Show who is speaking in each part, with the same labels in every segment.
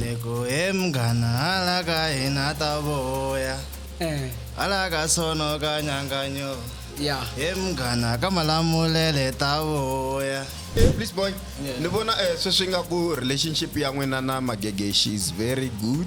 Speaker 1: Lego emgana halaka hina ta voya eh halaka sono ka nyanganyo ya
Speaker 2: emgana ka
Speaker 1: malamulele ta voya Eh, please boy
Speaker 3: ni vona eh, sweswi nga ku relationship ya n'wina na magege she is very good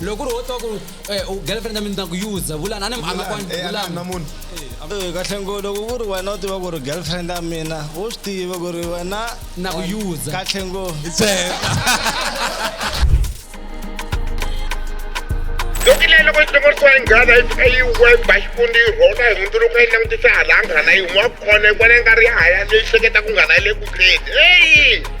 Speaker 2: loko ri wo twa ku eh, girlfriend ya mina ta ku yuza vulani ani a nga kwani eh, vulani na munhu
Speaker 3: eh, kahle ngo
Speaker 1: loko ku ri wena u tiva ku ri girlfriend ya mina u swi tiva ku ri wena na ku yuza
Speaker 2: kahle ngo
Speaker 1: loko
Speaker 4: leyi loko yi hlongorisiwa yi nghana yi fika yi weba xifundi yi rhona hi hundzuluka yi langutisa hala a nghana yi n'wa kona yi vona yi nga ri ya haya leyi hleketa ku nghana yi le kutleni eyi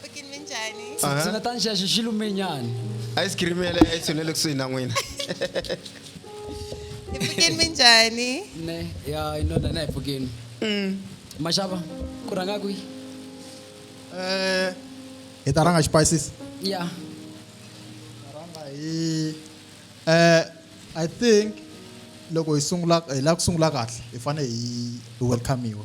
Speaker 5: Pfukin minjhani? Ndzi Aha. nga ta ni xaxa
Speaker 2: xilumenyana. ice cream ya le
Speaker 3: a yi tshunele kusuhi na n'wina
Speaker 5: Hi pfukin minjhani? Ne, ya
Speaker 2: inona na hi pfukeni. Maxava, ku rhanga kwihi? Eh,
Speaker 6: hi ta rhanga xipayisisi Ya.
Speaker 2: hi
Speaker 6: eh i think loko hi sungula hi lava ku sungula kahle hi fanele hi hi welcome-iwa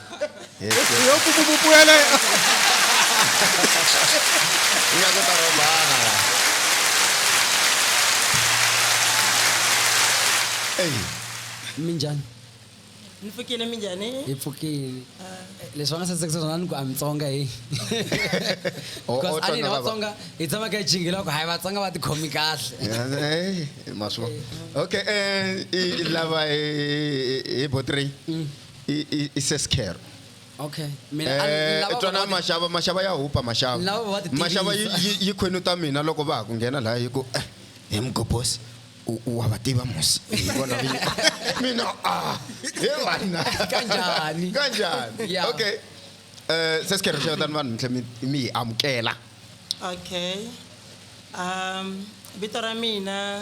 Speaker 3: Yo ku ku puela. Ia ku ta robana. Ey. Minjani?
Speaker 5: Ni pfukile minjani? Hi pfukile.
Speaker 2: Leswi va nga sasekisa swona ni ku a Mitsonga hi. Because a ni Vatsonga hi tshama ka jingila ku hayi Vatsonga va tikhomi kahle. Hey,
Speaker 3: maswa. Okay, eh lava hi hi botri. i- i- i sescare okay
Speaker 2: mina a- Eh, lava-
Speaker 3: twanani lava- maxava maxava ya hupa maxava Lava va ti maxava yi-
Speaker 2: tivisa. yi- yi khwenu
Speaker 3: ta mina loko va ha ku nghena laha hi ku eh, he mugobos u- u wa va tiva musi hi vona vinyi mina a he vanna Kanjhani?
Speaker 2: kanjhani Yeah. okay
Speaker 3: um sescare xevetani vanhu mintle mi- mi hi amukela okay
Speaker 5: um vito ra mina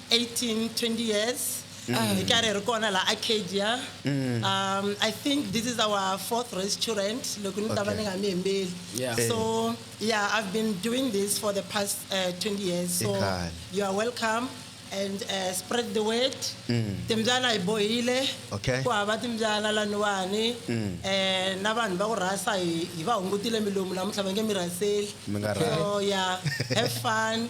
Speaker 5: 18 20 years mm. uh, hi karhi hi ri kona la arcadia mm. um, i think this is our fourth restaurant loko ni ta va ni nga mi
Speaker 3: hembeli yeah. so
Speaker 2: yeah
Speaker 5: i've been doing this for the past uh, 20 years so you are
Speaker 3: welcome
Speaker 5: and uh, spread the word mm. timbyana hi bohile ku hava
Speaker 3: timbyana
Speaker 5: laniwani mm. eh, na vanhu va ku rhasa hi va hungutile milomu namuntlha va nge mi rhaseli so
Speaker 3: yeah
Speaker 5: have fun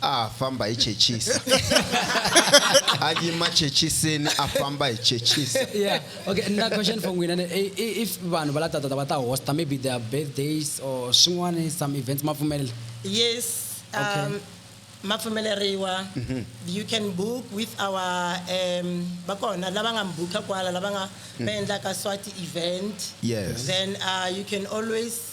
Speaker 3: a famba hi chechisa a yima chechisini a famba hi chechisa yeah okay
Speaker 2: na question for n'wina if vanhu va la tatata va ta hosta maybe their birthdays or swin'wana some events ma pfumelela yes okay.
Speaker 5: um,
Speaker 2: ma pfumeleriwa
Speaker 5: mhm. you can book with our um va kona lava nga mi booka kwala lava nga va mm. endlaka swati event yes then
Speaker 3: uh, you can
Speaker 5: always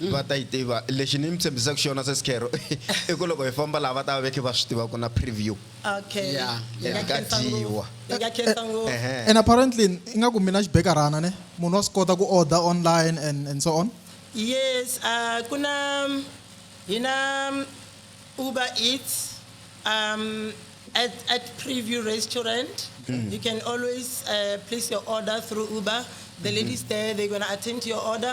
Speaker 5: Va ta yi
Speaker 3: tiva. Lexi ni mi tshembisaka xona Sesi Khero i ku loko hi famba laha va ta va ve khe va swi tiva ku na preview. Okay. Ya. Hi nga Ka
Speaker 5: khensa ngopfu.
Speaker 2: dyiwa.
Speaker 3: Hi nga khensa ngopfu.
Speaker 6: Ehe. And apparently ingaku mina xibekarhana ne munhu wa swi kota ku order online and and so on? Yes, uh,
Speaker 5: ku na hi na Uber Eats um, at, at Preview Restaurant. You can always uh, place your order through Uber. The ladies there, they're going to attend to your order.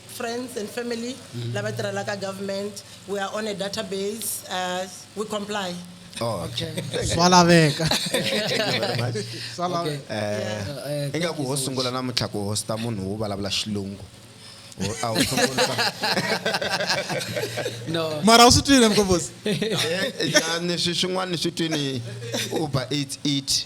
Speaker 5: friends and family lava tirhelaka government we are on a database uh, we comply Oh, okay.
Speaker 3: swa laveka
Speaker 6: swa laveka
Speaker 2: Eh, ingaku
Speaker 3: ho sungula namuntlha ku hosta munhu wo vulavula xilungu Ho- a ho sungula
Speaker 2: no mara u swi twile mkombosi
Speaker 6: Eh, yani
Speaker 3: swi swin'wana swi twini uber eats eat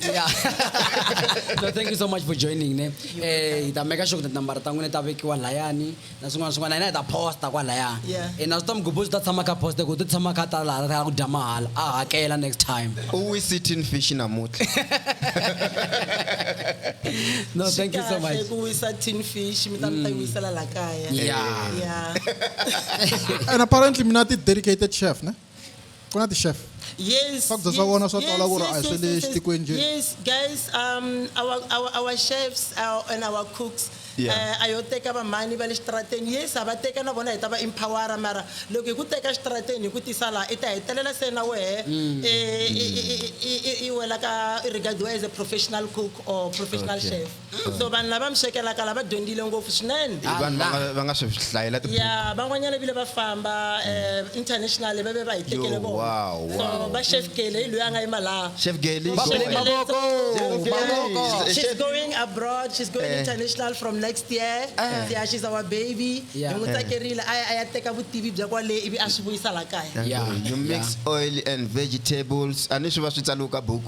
Speaker 2: yeah. no, thank you so much for joining ne eh hi ta make sure that number ta n'wina ta vekiwa layani na swin'wana swin'wana hina hi ta posta kwalaya eh, na swi ta mugubhu
Speaker 5: swi ta tshama
Speaker 2: ka posta ku ti tshama ka ta laha ra ku dya mahala a hakela next time u wi sitting fish
Speaker 3: namutlha
Speaker 2: no thank you so much ku wisa tin fish
Speaker 5: mi ta mi ta mm. wisela la kaya yeah
Speaker 6: yeah and apparently mina ti dedicated chef ne ku na ti-chef Yes. Fuck, that's yes,
Speaker 5: what I wanna sort yes, out,
Speaker 6: like, yes, I yes, said, yes, yes, stick with you. yes, guys,
Speaker 5: um, our, our, our chefs our, and our cooks. Yeah. Uh, a yo
Speaker 3: teka vamhani
Speaker 5: va le xitarateni yes a va teka na vona hi ta va empowera mara loko hi ku teka xitarateni hi ku tisa laha i ta hetelela se na wehe Mm. eh, i- i- i- i- i wela ka i regard as a professional cook or professional Okay. chef Mm, so vanhu lava mi swekelaka lava dyondzile ngopfu swinene I vanhu va nga- va nga swi
Speaker 3: hlayela tibuku ya van'wanyana vile va
Speaker 5: famba eh, international va ve va hi tekele Yo, vona wow, wow. so va
Speaker 3: chef kele
Speaker 5: hi loyi a nga yima laha chef geli Va Chef bele
Speaker 3: Gele, mavoko, Chef Gele, mavoko.
Speaker 5: she's- Chef- she's going abroad she's going Eh. international from next year yeah she's our baby hi Yeah. n'wi tsakerile
Speaker 2: a ya- a ya teka vutivi bya kwale
Speaker 3: ivi a swi vuyisa la kaya Yeah, you mix yeah. oil and vegetables a ni swi va swi tsaliwe ka buku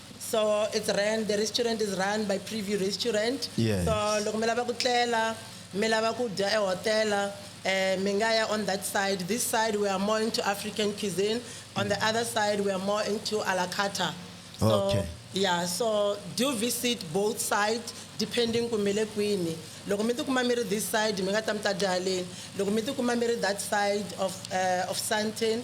Speaker 5: so it's ran the restaurant is run by preview restaurant Yes. so loko mi
Speaker 3: lava ku
Speaker 5: tlela mi lava ku dya ehotela um mi nga ya on that side this side we are more into african cuisine on the other side we are more into a la carta so Okay. yeah
Speaker 3: so
Speaker 5: do visit both side depending ku mi le kwini loko mi tikuma mi ri this side mi nga ta mi ta dya haleni loko mi tikuma mi ri that side of, uh, of santin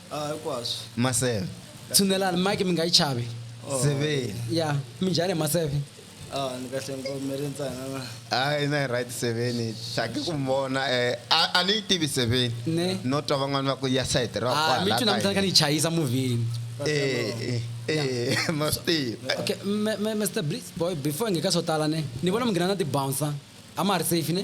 Speaker 2: Ah,
Speaker 1: hinkwaswo maseve
Speaker 3: tshunelani mike
Speaker 2: mi nga yi chavi seveni
Speaker 3: ya minjhani
Speaker 2: maseve ah ni kahle
Speaker 1: nkomele ntsana na hayi na yi right
Speaker 3: seveni hlaki ku mi vona um a ni yi tivi seveni Ne. no twa van'wani
Speaker 2: va ku ya
Speaker 3: sayiti ra Ah, mi twi namuntlha ni kha ni yi
Speaker 2: chayisa muvhini Eh, ee
Speaker 3: ma swi tiva okay me- me-
Speaker 2: mr blitz boy before hi nge ka swo tala ne ni vona mi nghena na tibouncer a ma ha ri safe ne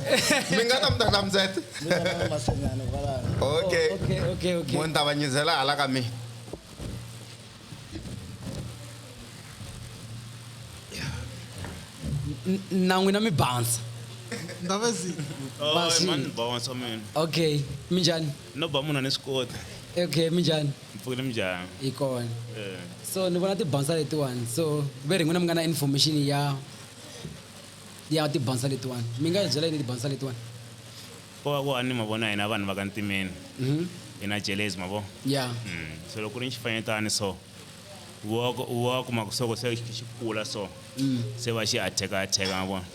Speaker 3: mi nga ta mi ta ka mtsete
Speaker 1: okay
Speaker 3: okay okay mo ni ta va
Speaker 2: nyizela
Speaker 3: hala ka mina
Speaker 2: na n'wina mi bounce ndavesi
Speaker 7: okay mi
Speaker 2: njhani no ba munhu ni swi
Speaker 7: kota okay mi njhani
Speaker 2: mpfukile mi njhani
Speaker 7: hi kona
Speaker 2: eh. so ni vona tibansa letiwani so ve ri n'wina mi nga na information ya ya tibansa letiwani mi nga hi byela yini tibansa letiwani ko va ku
Speaker 7: a ni mavona hina vanhu va ka ntimeni mhm. hi na jelezi mavo ya mm.
Speaker 2: so loko ku ri ni
Speaker 7: xifanyetani so wa kuma ku soko se xi kula so mm. se va xi attack attack mavona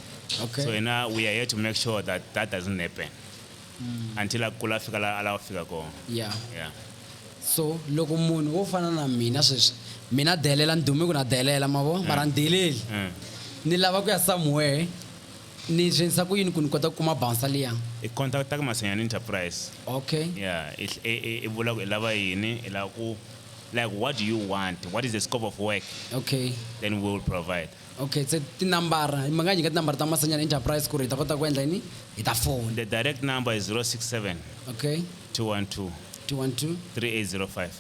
Speaker 7: okay so hina
Speaker 2: we are here
Speaker 7: to make sure that that doesn't happen mm. until a kula a fika la a lava fika kona yeah. yeah. so
Speaker 2: loko munhu wo fana na mina sweswi mina delela ni dume ku na delela mavo mm. mara ni deleli mm. ni lava ku ya somewhere ni swi endlisa ku yini ku ni kota ku kuma bounsa liya i contacta ka
Speaker 7: masanyana enterprise okay yeah i vula ku i lava yini i lava ku like what do you want what is the scope of work okay then
Speaker 2: we will provide
Speaker 7: Okay se
Speaker 2: tinambara mi nga nyika tinambara ta Masanyana Enterprise ku ri hi ta kota ku endla yini hi ta fona. The direct number is
Speaker 7: 067 Okay 212 212
Speaker 2: 3805.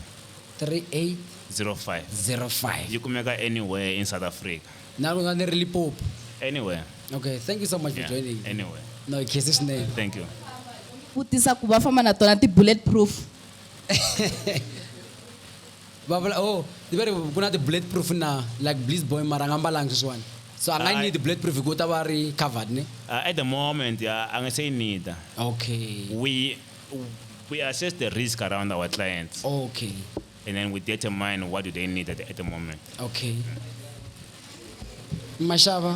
Speaker 2: 05. 3805. Yi
Speaker 7: kumeka anywhere in South Africa. Na loko ni ri
Speaker 2: Limpopo. Anywhere.
Speaker 7: Okay thank you so
Speaker 2: much for Yeah, joining. anywhere. No hi khese
Speaker 7: swinene.
Speaker 2: Thank you.
Speaker 7: vutisa
Speaker 8: ku va famba na tona ti-bullet proof
Speaker 2: va vula oh ni va ri ku na ti-bullet proof na like bliss boy mara a nga mbalanga sweswiwani so a nga yi Ayi. need bullet proof hikuva u ta va a
Speaker 7: ri
Speaker 2: covered ne Uh, at the moment, uh,
Speaker 7: I'm gonna say neither. okay We we assess the risk around our clients, okay
Speaker 2: and then we
Speaker 7: determine what do they need at the, at the moment. okay
Speaker 2: maxava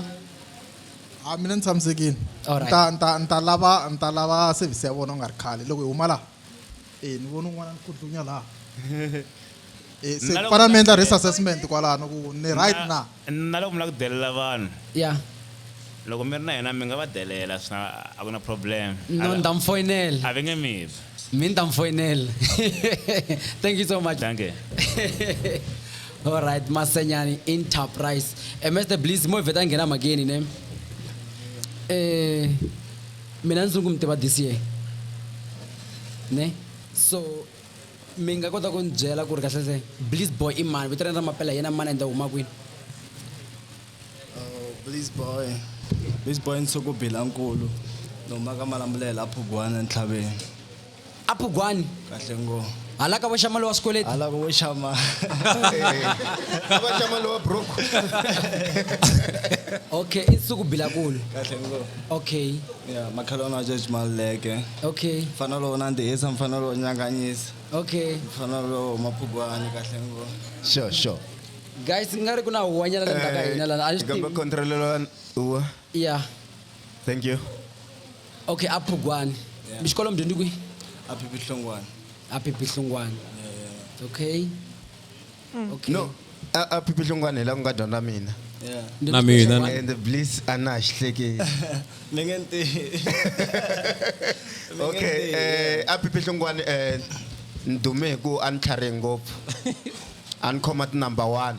Speaker 6: a mina ni tshamisekile Alright. nta
Speaker 2: nta nta lava
Speaker 6: nta lava service ya vona u nga ri khale loko hi huma laha ee ni vona un'wana ni khudlunya laha Eh, se Na loko- fana mi endla
Speaker 7: risk assessment
Speaker 6: kwalano ku ni right na na loko mi lava ku delela
Speaker 7: vanhu ya
Speaker 2: loko mi
Speaker 7: ri na yena mi nga va delela swi na- a ku na problem no ni ta mi foyinela
Speaker 2: a va nge mi vi
Speaker 7: mi ni ta mi foyinela
Speaker 2: thank you so much danke
Speaker 7: all
Speaker 2: right masenyani enterprise Eh, mr bliss mo hi vheta hi nghena mhakeni ne eh mina ndzi ku mi tiva this year ne so mi nga kota ku ni byela ku ri kahlese bliss boy i mani vito rena ra mapela hi yena mani ende huma kwini oh, bliss
Speaker 1: boy bliss boy nsuku bilankulu ni huma ka malambulela a phugwana entlhaveni a phugwani
Speaker 2: kahle ngo
Speaker 1: hala ka vo xama lowa
Speaker 2: swikweleti hala ka vo xama
Speaker 1: a va
Speaker 3: xama lowa broke
Speaker 2: okay i nsuku bilakulu kahle ngo
Speaker 1: okay ya
Speaker 2: makhelwana
Speaker 1: wa george maluleke okay mfana
Speaker 2: lowo nandzihisa
Speaker 1: mfana lowo nyanganyisa okay mfana
Speaker 2: lowo
Speaker 1: maphugwani kahle ngo sure sure
Speaker 3: guys ku
Speaker 2: nga ri ku na huwanyana le ndzaka hina lana a ni swi tivi controlelo
Speaker 3: huwa yeah
Speaker 2: thank
Speaker 3: you okay
Speaker 2: aphugwani yeah. mi xikolo mi dyondzi kwihi aphipihlongwana
Speaker 1: aphipihlongwana
Speaker 2: yeah, yeah. okay mm. okay no
Speaker 3: aphipihlongwana hi la ku nga dyondza mina yeah. na mina
Speaker 1: and
Speaker 9: please a
Speaker 2: na ha
Speaker 3: xi hlekeli ni nge nti okay eh aphipihlongwana eh ni dume hi ku a ni tlharihe ngopfu a ni khoma ti number one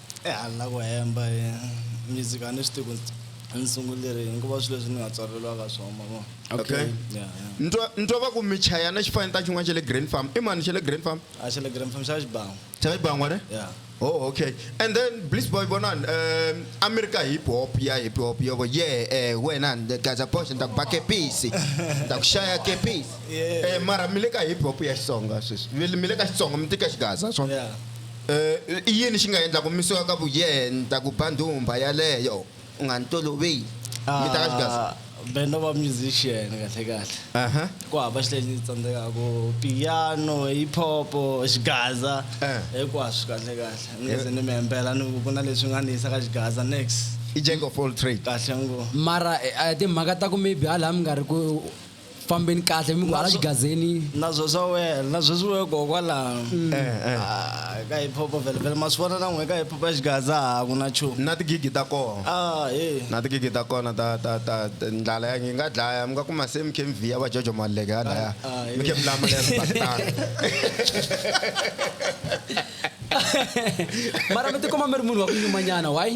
Speaker 1: ehandle na ku hemba hi music a ni swi tivi ku ni sungulile yini ku va swilo leswi ni nga tswaleriwaka swona ma vona okay Yeah,
Speaker 3: yeah. ni twa
Speaker 1: ni twa va ku
Speaker 3: michayana xi fane ta xin'wana xa le grand farm i mani xa le grand farm a xa le grand fam xa
Speaker 1: xibango xa xibangwa ne
Speaker 3: ya oh okay and then bliss boy vonani um a mi ri ka hip hop ya hip hop yo vo ye eh, wena ni gaza boxe ni ta ku ba kepisi ni ta ku xaya kepisi Yeah. Eh, mara mi le ka hip hop ya xitsonga sweswi mi le- mi le ka xitsonga mi tika xigaza swona ya
Speaker 1: I yini xi nga endla
Speaker 3: ku misiwa ka vuyenta ku ba ndhumbha yaleyo u nga ni toloveli? Mi ta ka xigaza. Ah, band of a
Speaker 1: musician kahle kahle Aha. ku hava xi lexi tsandzekaka piano hip hop xigaza Eh. hinkwaswo kahle kahle ni nga se ni mi hembela ni ku ku na leswi nga ni yisa ka xigaza next I jack of all trade.
Speaker 3: kahle ngo mara
Speaker 1: eh, a hi timhaka
Speaker 2: ta ku maybe hala mi nga ri ku fambeni kahle mi ku hala xigazeni na zwo swa wena
Speaker 1: na sweswi we kokwalano mm. eh, eh. ah, ka hip hop vele vele ma swi vona na n'we ka hip hop ya xigaza a ku na nchumu na tigigi ta kona
Speaker 3: ah, na tigigi ta kona ta ta ta ndlala ya ngi nga dlaya mi nga kuma se mi khe mi vhiya va jojo maleke ya laya ah, mi khe mi lama leya sibakitana
Speaker 2: mara mi tikuma mi ri munhu wa ku nyumanyana why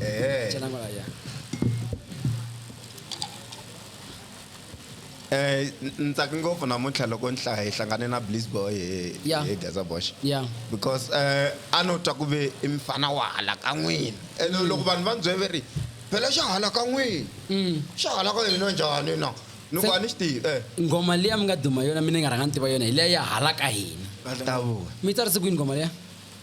Speaker 6: Ẹ̀ẹ́. Jẹ́
Speaker 3: lágbára ya. Eh, ni tsake ngopfu namuntlha loko ni hlaya hi hlangane na bliss boy hi- Yeah. hi gaza bosh Yeah. because
Speaker 2: eh,
Speaker 3: a no twa ku ve i mfana wa hala ka n'wina ene loko vanhu va ni byele ve ri phela xa hala ka n'wina Mm. xa hala ka hina njhani na ni ku Se- a ni xi tivi eh Ngoma liya mi nga duma
Speaker 2: yona mina ni nga rhanga ni tiva yona hi liya ya hala ka hina. tavuka Mi tsarise kwini
Speaker 3: ngoma
Speaker 2: liya?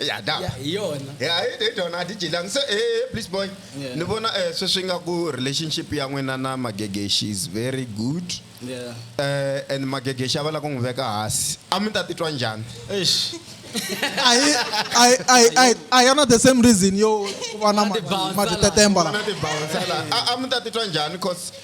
Speaker 3: ya da Ya, hi yona ya
Speaker 2: hi hi dyona a
Speaker 3: ti dyelanga se eh please boy Yeah. ni vona eh
Speaker 1: sweswi nga
Speaker 3: ku relationship ya n'wina na magege she is very good Yeah.
Speaker 1: eh and
Speaker 3: magege xa va la ku n'wi veka hansi a mi ta titwa njhani Eish.
Speaker 1: a hi a hi- a
Speaker 6: hi- a hi- a hi yona the same reason yo ku va na ma- Mati bouncer la. matetemba la na ti bouncer la a a mi
Speaker 3: ta titwa njhani cause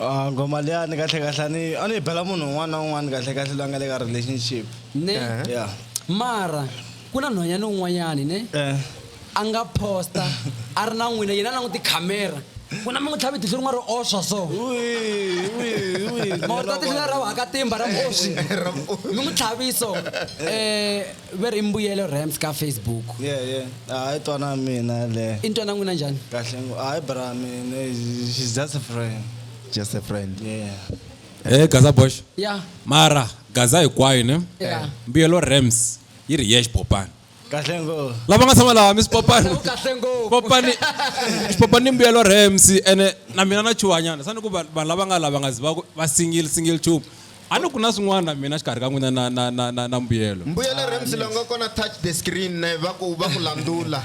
Speaker 1: a nghoma liyani kahlekahle a ni a ni yi bela munhu un'wana na un'wana kahlekahle loyi a nga le ka relationship ne
Speaker 2: Uh-huh. ya
Speaker 1: mara
Speaker 2: ku na nhwanyana un'wanyani ne Eh. a nga posta a ri na n'wina yena a languti khamera n'wina mi n'wi tlhavi tihlo rin'we ri oswa so mawuta tihlo ra haka timba ra oswi mi n'wi tlhaviso um ve ri i mbuyelo rams ka facebook ye ye hayi
Speaker 1: twana mina le i ni twana n'wina njhani
Speaker 2: kahle ngo hayi bra
Speaker 1: mina she's just a friend just a friend
Speaker 3: yeah
Speaker 1: Hey Gaza
Speaker 9: Bosh. Yeah. Mara
Speaker 2: Gaza
Speaker 9: hinkwayo ne. Yeah. Mbuyelo
Speaker 2: Rams
Speaker 9: yi ri yex Popani. Kahle ngo.
Speaker 1: Lava nga tshama laha mi
Speaker 9: swipopani. Kahle ngo.
Speaker 2: Popani
Speaker 9: swipopani mbuyelo Rams ene na mina na chuhanyana. Sani ku vanhu lava nga lava nga zi va va single single tube. a ni ku na swin'wana mina xikarhi ka n'wina na, na, na, na, na mbuyelo mbuyelo ah, rams lo nga
Speaker 3: kona touch the screen ne va ku va ku landula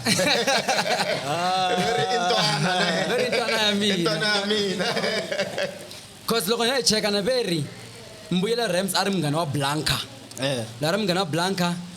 Speaker 3: ah. very intwana ne very intwana
Speaker 2: ya mina intwana ya mina cause loko hi cheka na veri mbuyelo rams a ri munghana wa blanca eh. la ri munghana wa blanca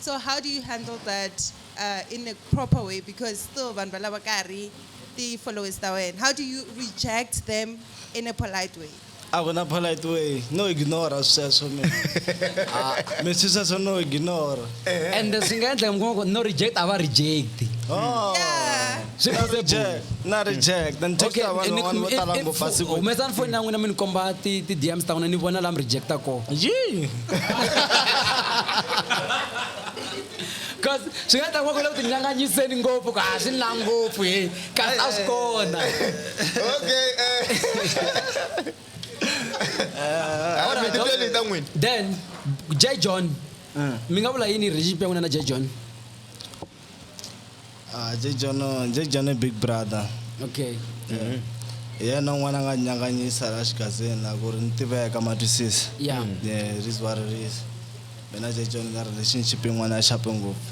Speaker 10: so how do you handle that uh, in a proper way because still vanhu valava ka ha ri ti-followers ta wena how do you reject them in a polite way a ku na polite
Speaker 1: way no ignora sweswo mi ah. mi swi sweswo no ignora eh. and swi nga
Speaker 2: endla mi kuma ku no reject a va reject oh. yeah.
Speaker 1: swi
Speaker 10: na ri jack
Speaker 1: na ri jack then text ya vanhu van'wana vo tala ngopfu a siku humesani foni ya n'wina mi ni
Speaker 2: komba ti ti dms ta n'wina ni vona laha mi rejecta kona yi
Speaker 1: because
Speaker 2: swi nga ta va ku le ku tinyanganyiseni ngopfu ku a swi na ngopfu he kasi a swi kona
Speaker 3: okay
Speaker 2: eh. eh, then j john mm. mi nga vula yini relationship ya n'wina na j john
Speaker 1: Ah, je jono je jono big brother okay
Speaker 2: hi
Speaker 1: yena un'wana a nga nyanganyisa la xigazini la ku ri ni tiveka matwisisa Yeah. Mm. yeah it
Speaker 2: is what it
Speaker 1: is mina je jono na relationship yin'wana ya xape ngopfu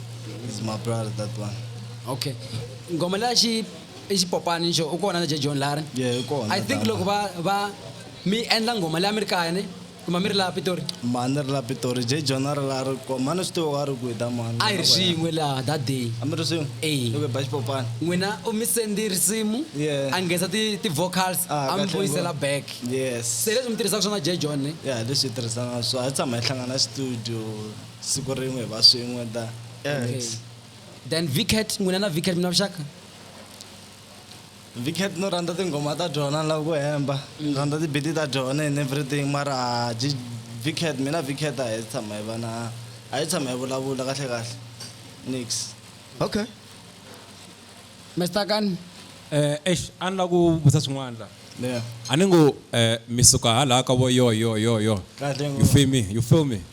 Speaker 1: is my brother that one okay
Speaker 2: ngoma leya xi i xipopani xo u kona na je john lari yeah i
Speaker 1: kona
Speaker 2: i think tala. loko va va mi endla ngoma leya mi
Speaker 1: ri
Speaker 2: kaya ni kumamiri laha pitori mani ri la pitori
Speaker 1: je jona ri la ri ko mani swi tivo wa ri ku hi ta mani a hi ri swin'we laha
Speaker 2: that day a mi ri swin'we Eyi.
Speaker 1: loko hi ba xipopana n'wina u mi sendi
Speaker 2: risimu Yeah. a nghenisa ti- ti-vocals Ah, a mi kahle vuyisela ngopfu. back yes se leswi mi
Speaker 1: tirhisaka swona
Speaker 2: j john ne ya leswi hi tirhisana swo
Speaker 1: a hi tshama hi hlangana studio siku rin'we hi va swin'we ta Okay.
Speaker 2: then vcat n'wina na vcat mi na vuxaka
Speaker 1: Vicket no rhandza tinghoma ta jona ni lava ku hemba ni rhandza tibiti ta jona and everything mara a ji vicket mina vicket a hi tshama hi va na a hi tshama hi vulavula kahle kahle nix okay
Speaker 2: mr kan eh eish a
Speaker 9: ni la ku vutisa swin'wana la yeah a ni ngo eh mi suka hala ka vo yo yo yo yo Kahle you ngopfu.
Speaker 1: feel me you feel
Speaker 9: me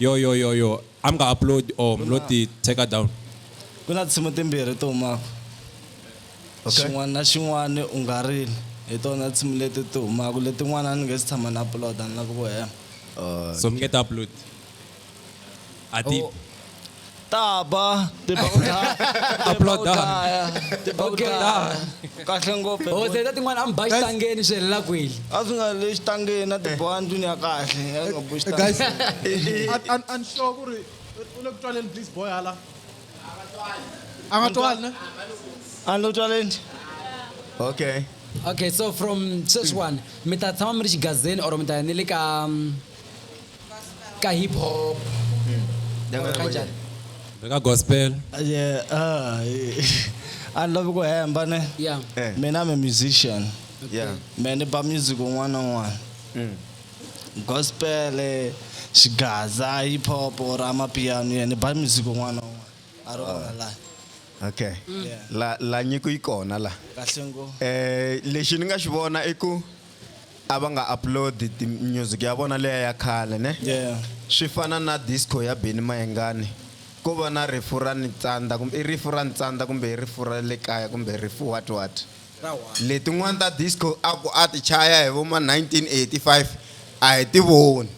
Speaker 9: Yo yo yo yo, a mi nga upload or mi lo ti take down? Ku na tinsimu
Speaker 1: timbirhi ti humaka Okay. xin'wana na xin'wana u nga rili hi tona tinsimu leti ti humaka letin'wana a ni nge si tshama ni upload-a ni lava ku hema So mi nge ti upload?
Speaker 9: A ti Oh. ta
Speaker 1: ba te ba ta
Speaker 9: aploda te ba ta
Speaker 1: kahle ngopfu oh teta tin'wana am bayi
Speaker 2: tangeni swi helela kweli a swi nga le xitangeni
Speaker 1: na tiboha ndlwini ya kahle ya nga boxi guys
Speaker 6: an an sure ku ri u le ku twaleni please boy hala a nga twali ne a lo
Speaker 1: twaleni okay
Speaker 3: okay so from sweswiwani
Speaker 2: mi ta tshama mi ri xigazeni or mi ta ya ni le ka mm, ka hip hop Or kanjani Beka
Speaker 9: gospel. Yeah,
Speaker 1: ah, a ni lavi ku hemba ne yeah Eh. mina I'm a musician Yeah. me
Speaker 3: ni ba music
Speaker 1: un'wana na un'wana Mm. gospel eh, xigaza hip hop or amapiano yeah, ni ba music un'wana na un'wana a ri wona laha Okay.
Speaker 3: La la nyiko yi kona la. kahle ngo Eh
Speaker 1: lexi ni nga
Speaker 3: xi vona i ku a va nga upload ti music ya vona leya ya khale ne yeah. swi fana
Speaker 1: na
Speaker 3: disco ya beni mayengani ko va na rifu ra nitsandza kumbe i rifu ra ntsandza kumbe i rifu ra le kaya kumbe rifu what what letin'wana ta disco a ku a ti chaya hi vo ma 1985 a hi ti voni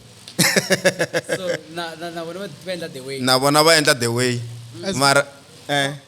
Speaker 2: na vona va endla the way
Speaker 3: mara eh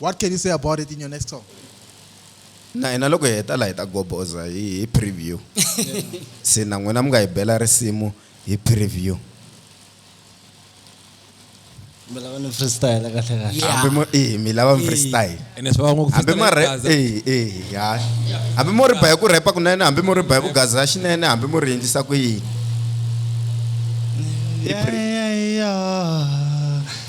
Speaker 6: What can you say about it in your next song? na
Speaker 3: hina loko hi heta la hi ta goboza hi hi preview se na n'wina mi nga hi bela risimu hi preview
Speaker 1: mi lava ni freestyle kahle kahle hambi mo eh mi lava
Speaker 3: mi freestyle ene swi vava ngopfu hambi
Speaker 9: ma freestyle
Speaker 3: rap gaza. eh eh ya hambi mo ri ba hi ku rap kunene hambi mo ri ba hi ku gaza xinene hambi mo ri endlisa ku yini Yeah, yeah, yeah.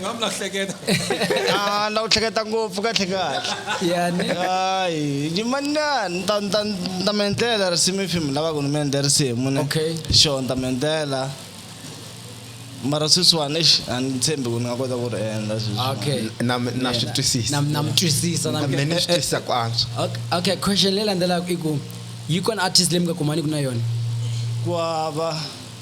Speaker 9: nga mi lahleketa a la
Speaker 1: ku hleketa ngopfu kahle kahle yani
Speaker 2: hayi
Speaker 1: yimana ni ta ni ta ni ta mi endlela risimu if mi lava ku ni mi endle risimu ne Okay. sure ni ta mi
Speaker 2: endlela
Speaker 1: mara sweswiwani exi a ni tshembi ku ni nga kota ku ri endla sweswiwani. okay na
Speaker 2: na swi twisisa
Speaker 3: Nam- namtwisisa
Speaker 2: nam- mina ni swi twisisa ku antswa
Speaker 3: Okay, okay question leyi
Speaker 2: landzelaka i ku yi kona artist leyi mi nga kumaniki na yona ku hava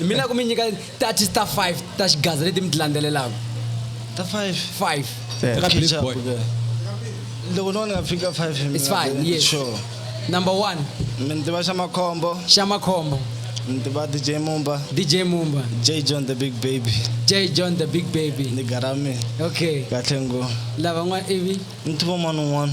Speaker 2: mi la ku mi nyika ta ti ta 5 ta xigaza leti mi ti landzelelaka
Speaker 1: ta
Speaker 9: 5 5
Speaker 2: Eka Blaze
Speaker 1: Boy. loko no ni nga fika 5 hi It's mina, fine, ni- yes. sure
Speaker 2: number
Speaker 1: 1
Speaker 2: mi ni tiva xa
Speaker 1: makhombo xa makhombo
Speaker 2: ni tiva dj
Speaker 1: mumba dj mumba
Speaker 2: j john the big
Speaker 1: baby j john the big
Speaker 2: baby ni garami
Speaker 1: okay kahle
Speaker 2: ngo
Speaker 1: lavan'wana ivi
Speaker 2: ni tiva mani un'wana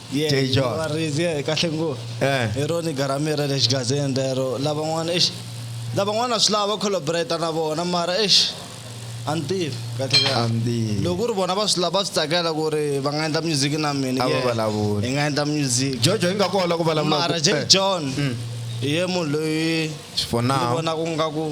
Speaker 1: Dejon. varisi ye
Speaker 3: kahle ngo
Speaker 1: Eh. hi roni garami ra le xigazini rero lavan'wana exi lavan'wana swi lava va collaborata na vona mara exi a ni tivi kahle A kahle ni
Speaker 3: tivi. loko ku ri vona va swi
Speaker 1: lava va swi tsakela ku ri va nga endla music na mina A va yeah, vulavuli. hi nga
Speaker 3: endla music
Speaker 1: jojo yi nga ku ola ku
Speaker 3: vulavula mara ku- Jay eh, John
Speaker 1: hi ye munhu loyi for ni now vonaka
Speaker 3: nga ku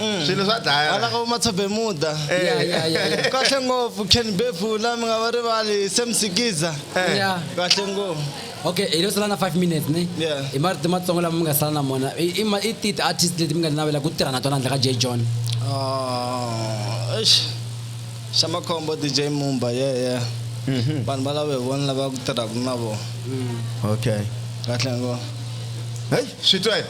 Speaker 3: mm. swilo swa dlaya wala ka umatsabemuda
Speaker 1: eh.
Speaker 2: kahle ngopfu
Speaker 1: ken bebula mi nga va rivali semsikiza eh. kahle
Speaker 2: ngopfu
Speaker 1: okay hi lo sala
Speaker 2: na five minutes ni i marito matsongo
Speaker 1: lama mi nga
Speaker 2: sala na mona i ti ti-artist leti mi nga tinavela ku tirha na tona handle ka j john ah,
Speaker 1: xa makhombo dj mumba ye ye mhm. vanhu va lava hi vona lava ku tirhaka na vona mm. okay
Speaker 3: kahle
Speaker 1: ngopfu heyi
Speaker 3: swi twe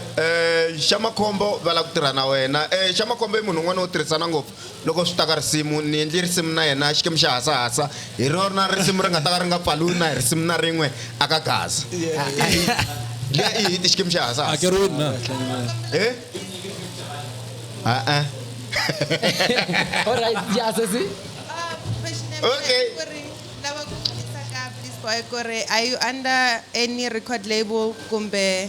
Speaker 3: Xamakhombo va lava ku tirha na wena. Xamakhombo i munhu un'wana wo tirhisana ngopfu loko swi ta ka risimu. Ni endle risimu na yena Xikwembu xa hasahasa, hi rona risimu ri nga ta ka ri nga pfaliwi na hi risimu na rin'we aka Gaza. Liya i hit Xikwembu xa hasahasa. Hakeriwile na?
Speaker 9: He? Ha-a.
Speaker 2: Alright, ya sesi.
Speaker 3: Okay. Lava ku vutisa
Speaker 10: ka Bliss Boy ku ri are you under any record label kumbe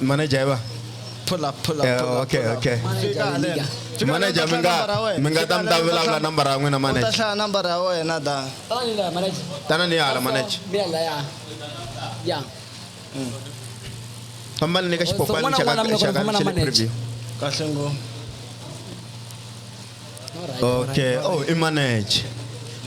Speaker 1: manager
Speaker 3: ba pull up
Speaker 1: pull up eh,
Speaker 3: pull up okay okay manager mi nga mi nga tam ta vulavula number ya n'wina manager u ta hlaya number
Speaker 1: ya wena da tana
Speaker 3: ni hala manager ya fambani ni ka xipopani xa ka xa ka xa le preview kahle ngopfu okay oh i manager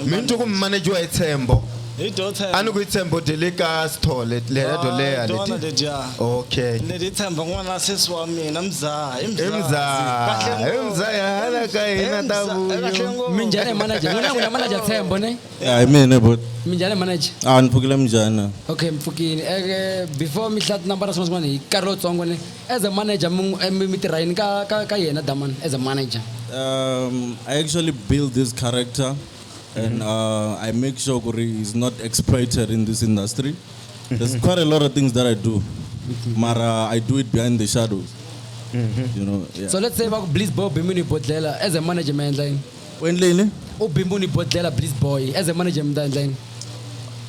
Speaker 3: mi ni twa ku manager wa hi tshembo hi dyo tshemba a ni
Speaker 1: ku yi tshembo de le
Speaker 3: ka sithole lera dyo leya Ah, tona leti leti ja
Speaker 1: okay ni ti
Speaker 3: tshemba n'wana
Speaker 1: wa sesi wa mina mzaha i mzaha imzaa
Speaker 3: imzaa hala ka hina ta vuyo minjhani manager n'wina
Speaker 2: n'wina manager tshembo ne ya hi mina bot
Speaker 11: minjhani manager
Speaker 2: a ni pfukile minjhani
Speaker 11: okay mpfukini
Speaker 2: eke before mi hlaya tinambara swin'wana swin'wana hi karhi lowutsongo ne As a manager, mitirhayini ka, ka, ka yena Daman, as a manager? Um,
Speaker 11: I actually build this character and uh, I make sure Kuri is not exploited in this industry. There's quite a lot of things that I do, Mara, I do it behind the shadows. You know, yeah. So let's say va ku Bliss Boy u
Speaker 2: bimbe ni bodlhela as a manager mi endla yini? U endle yini?
Speaker 11: U bimbe ni bodlhela
Speaker 2: Bliss Boy
Speaker 11: as a
Speaker 2: manager mi ta endla yini?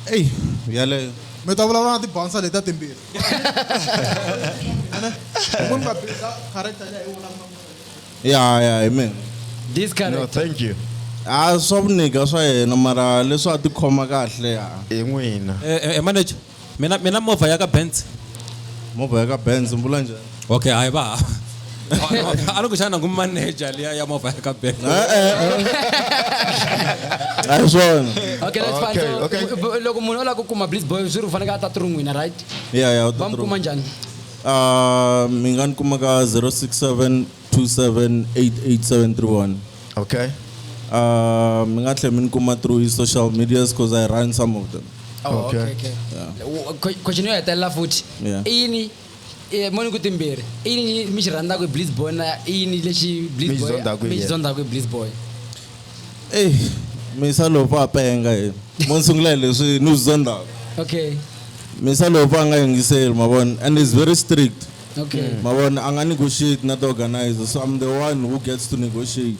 Speaker 2: Eyi, yaleyo. Mi
Speaker 6: ta vulavula na ti-bouncer letiya timbirhi. ya ya hi mina
Speaker 11: this no character
Speaker 2: thank you
Speaker 3: a swa
Speaker 11: vuniga swa yena mara leswi a tikhoma kahle ya hi n'wina
Speaker 3: Eh, eh, eh, manager
Speaker 9: mina mina movha ya ka benz movha ya
Speaker 11: ka benz mbula njhani okay ai ba
Speaker 9: a ni ku xana ku manager liya ya movha ya ka bank
Speaker 11: a hi swona okay that's fine Okay,
Speaker 2: so okay. bu- bu- loko munhu o lava ku kuma blitz boy swi ri u fanekele a ta tirun'wina right ya ya va mi kuma
Speaker 11: njhani
Speaker 2: Ah,
Speaker 11: mi nga ni kuma ka 067 27 88731 okay
Speaker 3: Ah,
Speaker 11: mi nga tlhela mi ni kuma through his social medias because i run some of them Oh, Okay. okay, okay.
Speaker 2: Wo- que- question yo hetelela futhi Yeah. i yini Eh, moni ku timbirhi i yini mi xi rhandzaka hi blitz boy na i yini lexi blitz Mi xi boy zondzaka hi mi xi yena. zondzaka hi blitz boy eyi Eh,
Speaker 11: misa lowu va penga yena mo ni sungula hi leswi ni swi zondzaka okay
Speaker 2: misa lowu
Speaker 11: va nga yingiseli mavona and is very strict okay mavona
Speaker 2: a nga
Speaker 11: negotiate na ti-organizer so i'm the one who gets to negotiate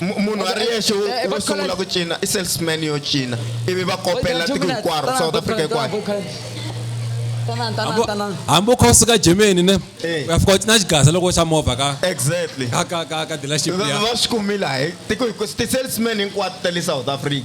Speaker 3: Mu- munhu a ri yexe wo- Eh, eh, wo va sungula collect- ku cina i salesman yo cina ivi va kopela tiko hinkwaro south africa hinkwayo
Speaker 9: hambi u kha u suka germany ne Eh. u ya fika u cina xigasa loko xa movha ka exactly ka ka ka
Speaker 3: ka dealership
Speaker 9: va ya va swi kumile hayi
Speaker 3: tiko hinkwaro ti-salesman hinkwato ta le south africa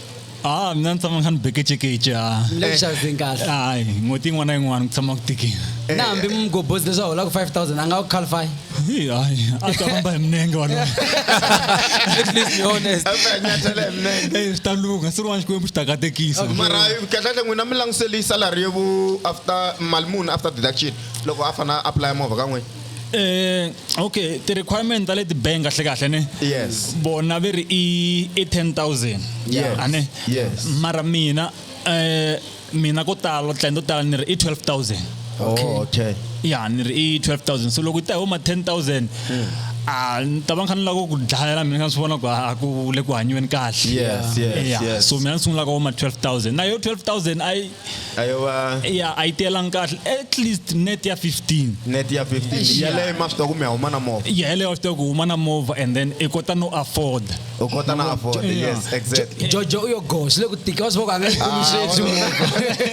Speaker 2: a mina
Speaker 12: ni tshama ni kha ni bekechekeche a leswaku kahle
Speaker 2: hayi n'hweti yin'wana
Speaker 12: na yin'wana ku tshama ku tikile eh. na hambi mugobhozi
Speaker 2: leswi a holaka 5000 a nga ku qualify hi hayi
Speaker 12: a ta famba hi minenge walowo at
Speaker 9: least be honest
Speaker 3: eh, swi ta lungha swi rin'wana xikwembu
Speaker 12: xi ta katekisa mara kahlekahle
Speaker 3: n'wina mi languselisa lariye vu after mali muni after deduction loko a fanele a apply movha ka n'wina Eh okay,
Speaker 12: ti requirement ta le ti bank kahle kahle ne. Yes. Bona ve
Speaker 3: ri i
Speaker 12: i 10000. Yes. Ane.
Speaker 3: Yes.
Speaker 12: Mara
Speaker 3: mina
Speaker 12: eh mina ko tala tlendo tala ni ri i 12000. Okay. Oh, okay.
Speaker 3: Ya
Speaker 12: ni ri i 12000. So loko ta huma 10000. Hmm. Ah, ni ta va kha ni lava ku dlayela mina nga swi vona ku a ku le ku hanyiweni kahle. Yes, yes, yeah. yes.
Speaker 3: So mina ni sungula ka huma
Speaker 12: 12000. Na yo 12000 ai ayo va ya a yi tiyelangi kahle at least net ya 15 net ya 15 yaleyo
Speaker 3: ma swi tiva ku mi ya huma na movha ya yeleyo wa swi tiva ku huma na
Speaker 12: movha and then i kota no afford u kota na afford Yeah.
Speaker 3: yes exactly jojo u yo go swi le
Speaker 2: ku tika wa swi voko a nga yi kumi sweswi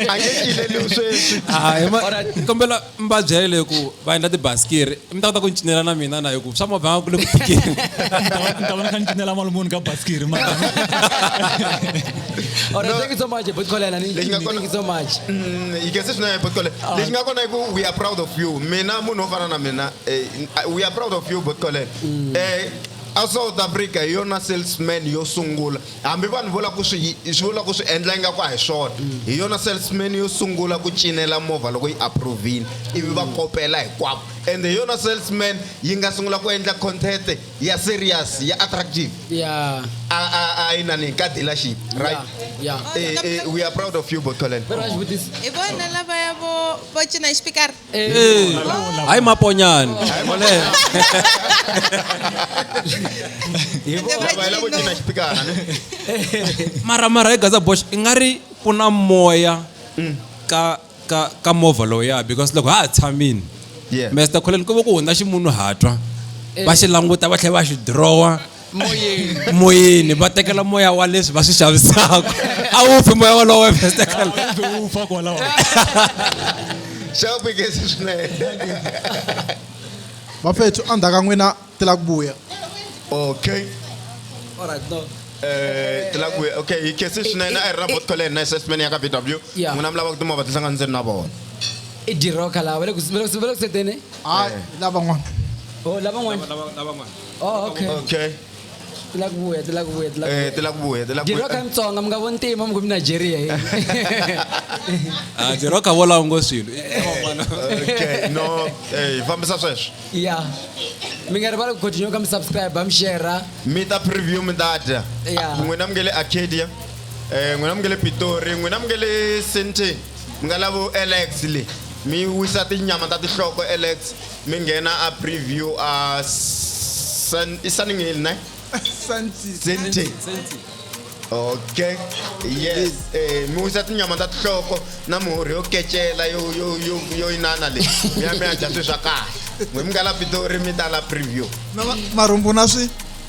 Speaker 2: a nge cileliwi sweswi
Speaker 9: Ah, hi ma- kombela mi va byele ku va endla tibasikiri mi ta kota ku ni cinela na mina na hi ku swa movha nga ku le ku tikeni ni
Speaker 12: ta va ni kha ni cinela mali muni ka basikiri ma All
Speaker 2: right, thank you so much, Bhut Kholela. Ni- Lexi nga ni- kona- Thank you so much. Mm, you can say swinene
Speaker 3: but kole lexi nga kona i ku we are proud of you mina munhu wo fana na mina eh, we are proud of you but kole eh a south africa hi yona salesman yo sungula Hambi vanhu vo lava ku swi vo lava ku swi endla ingaku a hi swona, hi yona salesman yo sungula ku cinela movha loko yi approve-ile ivi va kopela hinkwavo. Ende hi yona salesman yi nga sungula ku endla content ya serious ya attractive. Yeah. A a a inani ka dealership, right? Yeah, yeah. Eh, eh, we are proud of you, Botholeng. Very nice with this. Hi vona
Speaker 10: lavaya vo vo cina hi xipikara. Eh,
Speaker 9: hayi maponyana mara mara hi gaza bosh i nga ri ku na moya mm. ka ka ka movha lowuya because loko ha ha tshamini mr colin ku va ku hundza ximunhu hatwa va xi languta va tlhela va xi dirowa moyeni va tekela moya wa leswi va swi xavisaka a wu pfi moya walowo
Speaker 12: xavupekesi
Speaker 3: swinene
Speaker 6: vafethu endzhaku ka n'wina ti la ku vuya okay Alright,
Speaker 3: no. Eh, ti la ku vuya okay hi kesi swinene a hi ri na bot college na assessment ya ka b w Yeah. n'wina mi lavaka timovha ti hlanganise na vona i diroka
Speaker 2: lawa va le ku- va le ku- va le ku seteni hayi lavan'wana o lavan'wana
Speaker 3: Oh, okay. Okay. ti la
Speaker 2: ku vuya ti la ku vuya ti la ku Eh, ti la ku vuya, ti la ku vuya. Jiroka mutsonga mi nga vo ntima mi ku mi nigeria yini Ah,
Speaker 9: jiroka volawu ngo swilo okay
Speaker 3: no eh, fambisa sweswo ya
Speaker 2: mi nga rivali ku continue ka mi subscribe mi share mi ta preview
Speaker 3: mi ta dya Yeah. n'wina mi nge le arcadia um n'wina mi nge le pitori n'wina mi nge le sintin mi nga lavo alex le mi wisa tinyama ta tihloko alex mi nghena a preview a Sun- i Sunning Hill ne Senti. okay yes eh mi wisa tinyama ta tihloko na mihorhi yo kecela yo yo yo yo inana leyi mi ya mi ya dya swi swa kahle n'we mi nga la pitori mi ta la preview na ma- marhumbu na
Speaker 6: swi